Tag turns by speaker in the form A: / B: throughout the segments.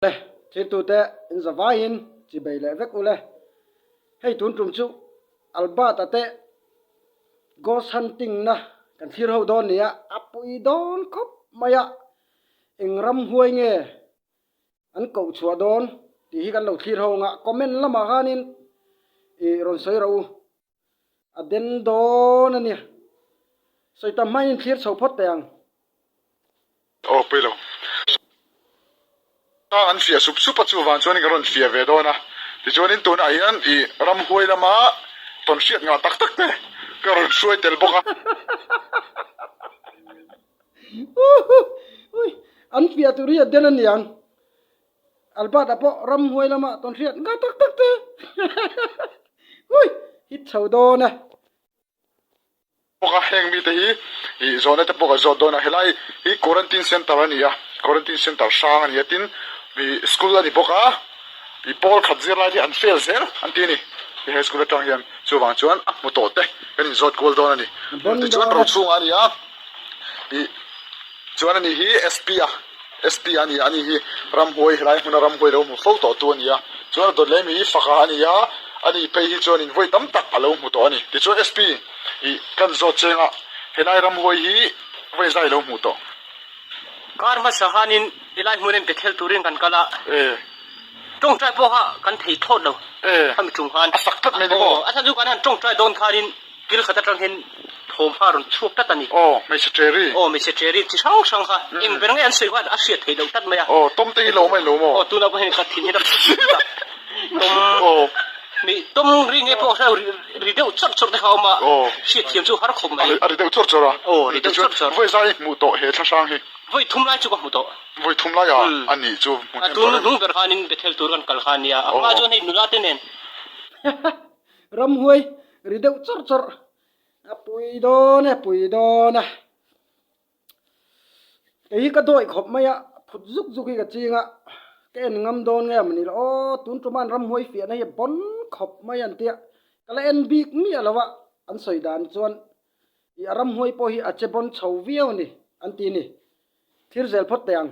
A: E, thiltute, inzavaiin chi bei leh vek ule. Hei tun tum chu Albert a teh ghost hunting na kan thlir ho dawn nia, a pui dawn khawp mai a, eng ram huai nge an koh chhuah dawn tih hi kan lo thlir ho ang a, comment lamah khanin ih rawn sawi ro u. a den dawn a nia, sawi ta hmain in thlir chho phawt teh ang.
B: Aw pui lo, sawi ta an fiah sup sup a chu vang chuan in ka rawn fiah ve dawn a, tichuan in tunah hian i ram huai lama tawn hriat ngah tak tak te ka rawn hruai tel bawk a.
A: Uhuh, ui, an fiah tur hi a den a niang. Albert a pawh ram huai lama tawn hriat nga tak tak te hui hit chho dawn a.
B: Bawk a heng mite hi ih zawh na te pawh kan zawt dawn a helai hi quarantine center a ni a quarantine center hrang a ni a tin ih school a ni bawk a ih pawl khat zir lai te an fail zel an ti a ni hei high school atang hian chuvang chuan a hmu tawh te kan in zawt kual dawn a ni tichuan rochhung ah a ni a ih chuan a nih hi SP a. SP a nia ani hi ramhuai helai hmuna ramhuai lo hmu fo tawh tu a ni a chuan a dawt leh mi hi faka a ni a a nih phei hi chuan invawi tam tak a lo hmu tawh a ni tichuan SP ih kan zawt cheng ah helai ramhuai hi vawi zai lo hmu tawh Kar
C: hmasa khanin helai hmun en pe khel turin kan kal a tawngtai pawh kha kan thei thawt lo khami chung khan a sak tlat mai ni maw a hla
B: chu kan han tawngtai
C: dawn khanin Thil khat atang hian thawm hma rawn chhuak tlat a ni. Aw, hmeichhe ṭeri. Aw,
B: hmeichhe ṭeri chi
C: hrang hrang kha eng ber nge an sawi hian a hriat theih loh tlat mai a. Aw, tawmte hi lo mai lo
B: maw? Aw, tunah pawh hian ka thinhna
C: ka hre tlat a. Tawm, aw, hmei tawm ri nge pawh hre ri ri deuh chawr chawr te kha a awm a. Aw. Hriat thiam chu har khawp mai. A ri deuh chawr chawr a. Aw,
B: ri deuh chawr chawr. Vawi
C: zai hmuh tawh he thla
B: hrang hi. Vawi thum lai chu ka hmu
C: tawh. Vawi thum lai a? Umm.
B: A nih chu hmuh hnem tawh reng. A tun hnung ber
C: khanin Bethel tur kan kal kha a nia. A hma chuan hei nula te nen.
A: Ramhuai ri deuh chawrh chawrh. A pui dawn e, pui dawn a. Kei hi ka dawih khawp mai a, phut zuk zuk hi ka ching a, ka en ngam dawn nge mawni la aw, tun tuman ramhuai fiahna hi a bon khawp mai an tia, ka la en bik miah lo a, an sawi dan chuan i a ramhuai pawh hi a che bon chho viau a ni, an ti a ni. Thlir zel phawt teh ang.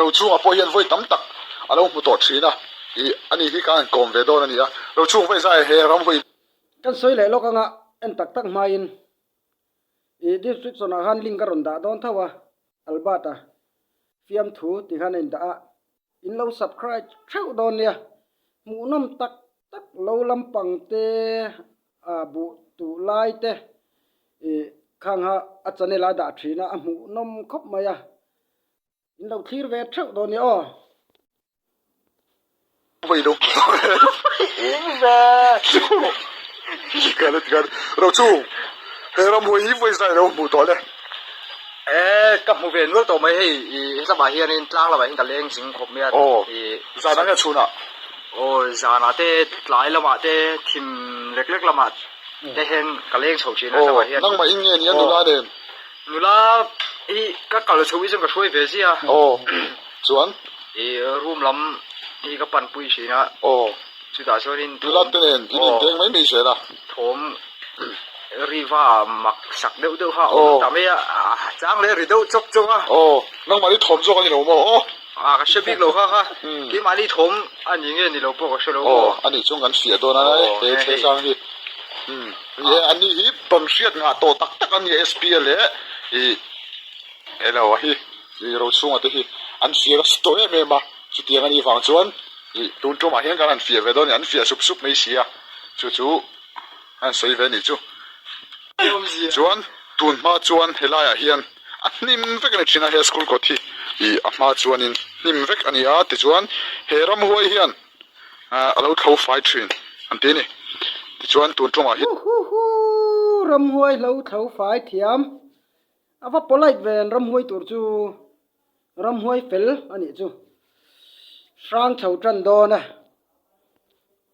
B: Rochhungah pawh hian vawi tam tak a lo hmu tawh thin a, ih a ni hi kang kawm ve dawn a ni a, rochhung vawi zai he ram vawi. Kan sawi leh
A: lawk anga en tak tak hmain ih description ah khan link ka rawn dah dawn tho a, Albert a fiamthu ti khan a indah a, in lo subcribe theuh dawn nia, hmuhnawm tak tak lo lampang te a buh duh lai te ih khang ha a channel ah dah thin a, a hmuhnawm khawp mai a. In lo thlir ve theuh dawn nia aw.
B: Mei lo eng ve tikhan a ti khan ro chung he ramhuai hi vawi zai lo hmuh tawh le. Ee
C: ka hmu ve nual tawh mai hei i he hlama hianin tlang lamah hian ka leng zing khawp mai a i zanah nge
B: chhunah aw zanah
C: te tlai lamah te thim lek lek lamah te hian ka leng chho thin a hlama hian nangmah in nge nia nula
B: nen. Nula,
C: i ka kal chhoh i chuan ka hruai ve zia. Aw, chuan?
B: I
C: room lam hi ka pan pui thin a. Aw. Chutah chuanin thawm. Nula te nen i din
B: teng mai mai zel a. Thawm
C: riva mak sak deuh deuha a awm ta mai a. Aw. Chang leh ri deuh chawk chawk a. Aw, nangmah hi thawm
B: zawk a ni lo maw? Aw. Aw ka hre bik
C: lo kha kha keimah ni thawm a ni nge ni lo pawh ka hre lo aw a nih chuan kan fiah
B: dawn a he he sang hi ih e ani hi ban hriat nghah tawh tak tak a ni a spa leh ih he lo a hi ih ro chhunga te hi an fiah ka hre tawh em em a chutiang a nih vang chuan ih tun ṭawmah hian kan han fiah ve dawn a ni an fiah sup sup mai si a chu chu a han sawi ve a nih chu chuan tun hma chuan he laiah hian a hnim vek a ni thin a he school kawt hi ih a hma chuanin hnim vek a ni a tichuan he ramhuai hian ahh a lo thlo fai thin an tih a ni tichuan tun tawngah hian huhhuhhuuhh
A: ramhuai hlo thlo fai thiam a va polite ve ang ramhuai tur chu ramhuai fel a nih chu hrang chho tan dawn a.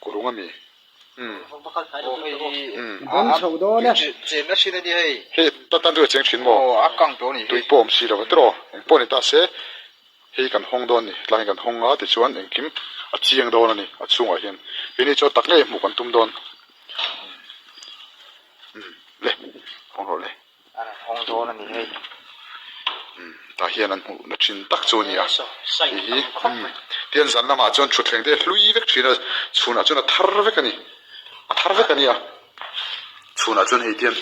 B: Kurung a mi. Umm.
C: Umm. Awm
D: chhoh dawn
A: e. Chem na thin a ni hei.
D: Hei ta tan chu a cheng
B: thin maw? Aw a kang tawh a ni hi.
D: Tui pawh awm si lo hetawh aw.
B: Eng pawh a ni ta se hei kan hawng dawn a ni. Tlangin kan hawng a tichuan engkim a chiang dawn a ni a chhungah hian. Kei ni chuan tak ngei a hmuh kan tum dawn. Umm le. Hawng rawh le. An han hawng dawn
D: a ni hei. Umm
B: tah hian an hmuh na thin tak chu a ni a, hei hi
C: umm
B: tian zan lamah chuan thutthleng te hlui vek thin a, chhun ah chuan a thar vek a ni, a thar vek a ni a, chhun ah chuan hei tian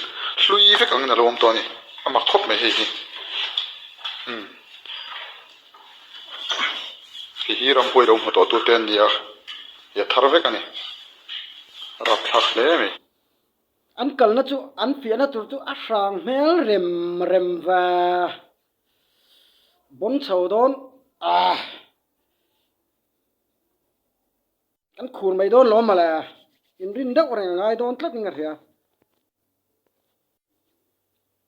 B: hlui vek ang in alo awm tawh a ni, a mak khawp mai hei hi umm hei hi ramhuai lo hmu tawh tu te a ni a, i a thar vek a ni, a rap thlak hle mai. An
A: kalna chu an fiahna tur chu a hrang hmel rem rem va, bawm chho dawn ah, kan khur mai dawn lawm male, inrin deuh reng a ngai dawn tlat in ka hria.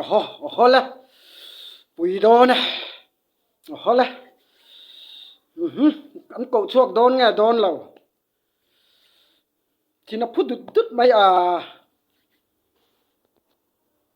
C: Oho, oho le,
A: pui dawn e, oho le, umhum, an koh chhuak dawn nge dawn lo, thin a phu dut dut mai a.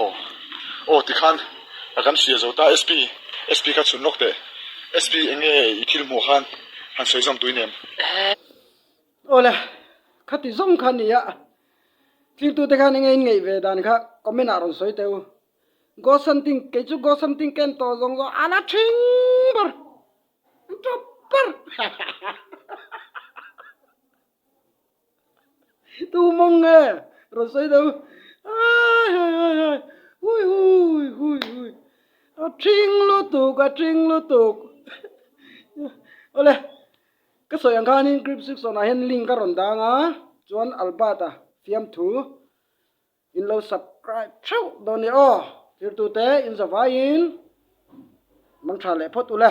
B: Aw. Aw tikhan a kan hria zo ta. SP SP kha chhun lawk teh. SP enge i thil hmuh khan han sawi
A: zawm tui nem. Awle, khati zawm kha ni a. Tlingtu te khan enge in ngeih ve dan kha comment ah rawn sawi teh u. Go something, kei chu go something ka en tawh zawng zawng a la thin ber. Proper. Tuu mawng nge rawn sawi deuh ai hai hai hai hui hui hui hui a ṭhing lutuk a ṭhing lutuk awle ka sawi ang khanin group six on ah hian link ka rawn dang a chuan albert a fiamthu in lo subscribe theuh dawn nia aw zirtute in za vaiin mangṭha leh phawt ula.